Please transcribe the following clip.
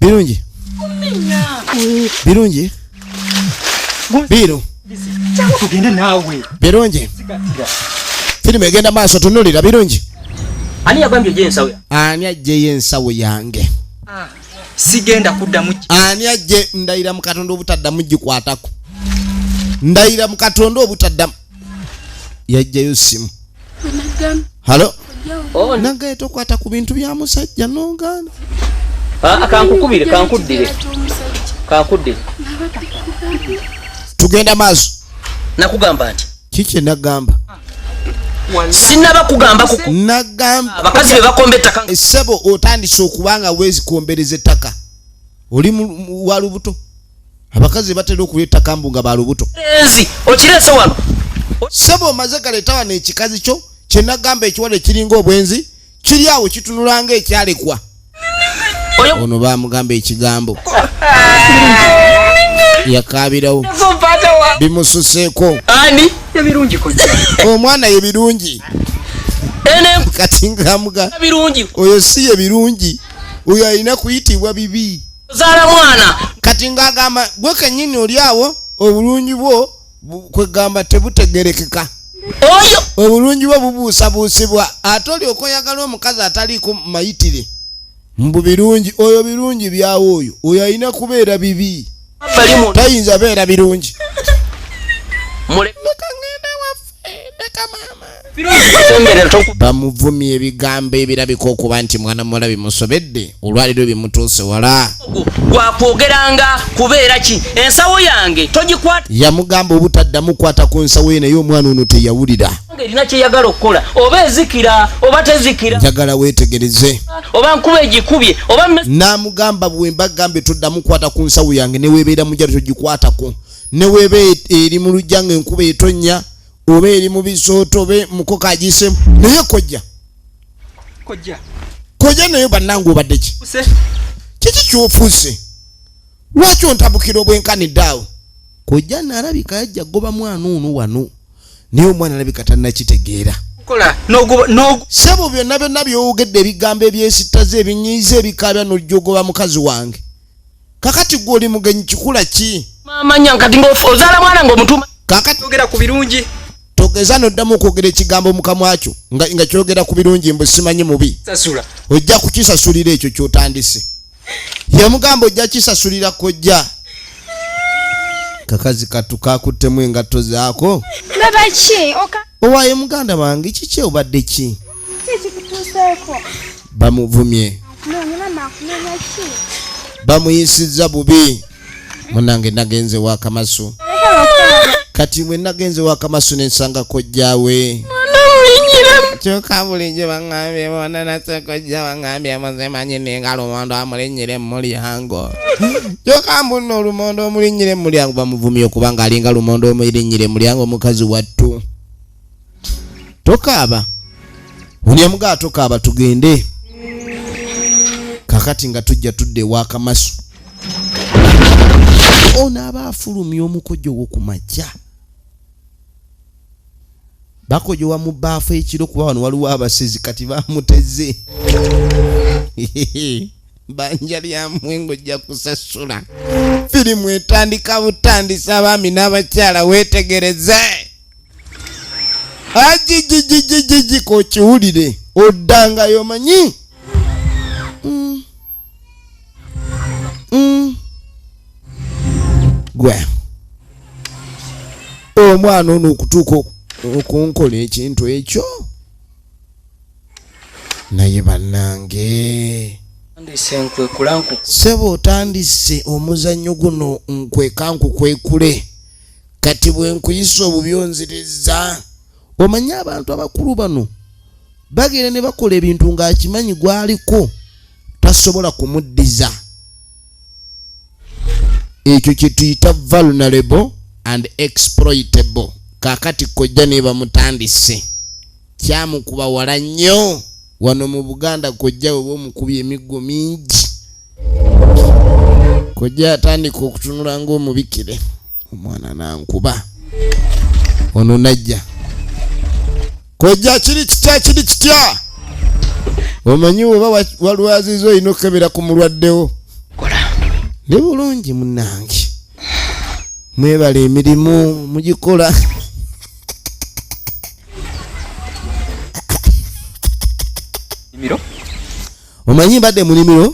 birungi birungi biru Changu tugende naawe. birungi firimu egenda maaso tunulira birungi Ani yagambye gye nsawe? ani ajjeyo ensawo yange Sigenda kuddamu ki- ani ajje ndayira mu katonda obutaddamu gikwatako ndayira mu katonda obutaddamu yajjayo simu halo oh, nagaye tokwata ku bintu bya musajja nogaana ah, kankukubire kankuddire kankuddire tugenda maaso nakugamba nti kiki nagamba sinaba kugamba abakazi bebakomba ettaka esebo otandise okubanga wezikombereza ettaka oli walubuto abakazi batera okulya ettaka mbu nga balubuto okirese wano sebo omaze galeta wano ekikazi kyo kyenagamba ekiwala ekiringa obwenzi kiri awo kitunulanga ekyalekwa ono bamugamba ekigambo yakaabirawo bimususeeko omwana ye birungi kati ngamuga oyo si ye birungi oyo alina kuyitibwa bibi ozaala mwana kati ng'agamba gwe kennyini oli awo obulungi bwo kwegamba tebutegerekeka oyo obulungi bwo bubuusabuusibwa ate olyoka oyagala omukazi ataliiko mayitire mbu birungi oyo birungi byawo oyo oyo alina kubeera bibi tayinza beera birungi bamuvumye ebigambo ebirabika okuba nti mwana muwala bimusobedde olwaliro bimutuuse wala gwakwogeranga kubeera ki ensawo yange togikwata yamugamba obutaddamu kwata ku nsawo ye naye omwana ono teyawulira erina kyeyagala okukola oba ezikira oba tezikira njagala wetegereze oba nkuba egikubye oba namugamba bwemba gambe toddamu kwata ku nsawo yange newebeera mujalo togikwatako ne weba e, eri mu lujja nga enkuba etonnya oba eri mu bisooto oba muko kagiisemu naye kojja kojja kojja naye bannange obadde ki kiki kyofuuse lwaki ontabukira obwenkanidde awo kojja naalabika yajja goba mwana ono wano naye omwana alabika tannakitegeera sebo byonna byonna byowogedde ebigambo ebyesittaza ebinyiiza ebikaabya nojja ogoba mukazi wange kakati gwe oli mugenyi kikula ki mamanya nkati ngaozaala mwana ngaomutuma kakati ogera ku birungi togeza noddamu okwogera ekigambo mukamwakyo nga, nga kyogera ku birungi mbu simanyi mubi sasula ojja kukisasulira ekyo kyotandise yamugamba ojja kisasulira kojja kakazi katu kakuttemu engatto zaako babaki owaye muganda wange kiki obadde ki bamuvumye bamuyisizza bubi munange nagenze wakamasu kati bwe nagenze wakamasu nensanga kojjawe kyokka bulijjo baŋŋambye bona nasekojja baŋŋambye muzimanyi ninga lumondo amulinnyire mulyango kyokka mbunna olumondo omulinnyire mulyango bamuvumye okubanga alinga lumondo omulinnyire mulyango omukazi wattu tokaaba buli amugaa tokaaba tugende kakati nga tujja tudde ewakamasu ono aba afulumya omukojo wo ku makya bakojowa mu baafu ekiro kuba wano waliwo abasezi kati bamuteze banja lyamwe ngojja kusasula firimu etandika butandisa abaami n'abakyala weetegereze ajijijijijiji kokiwulire oddangayo manyi mm. mm. gwe omwana ono okutuuka okunkola ekintu ekyo naye bannange sebo otandise omuzannyo guno nkwekankukwekule kati bwe nkuyisa obubi onziriza omanyi abantu abakulu bano bagenda ne bakola ebintu ng'akimanyi gwaliko tasobola kumuddiza ekyo kye tuyita vulnerable and exploitable kaakati kojja nebamutandise kyamukuba wala nnyo wano mu buganda kojja weba omukubi emiggo mingi kojja atandika okutunula ngaomubikire omwana nankuba ono najja kojja kiri kitya kiri kitya omanyi weba walwaziza olina okukebera ku mulwaddewo ne bulungi munange mwebale emirimu mugikola omanyi mbadde munimiro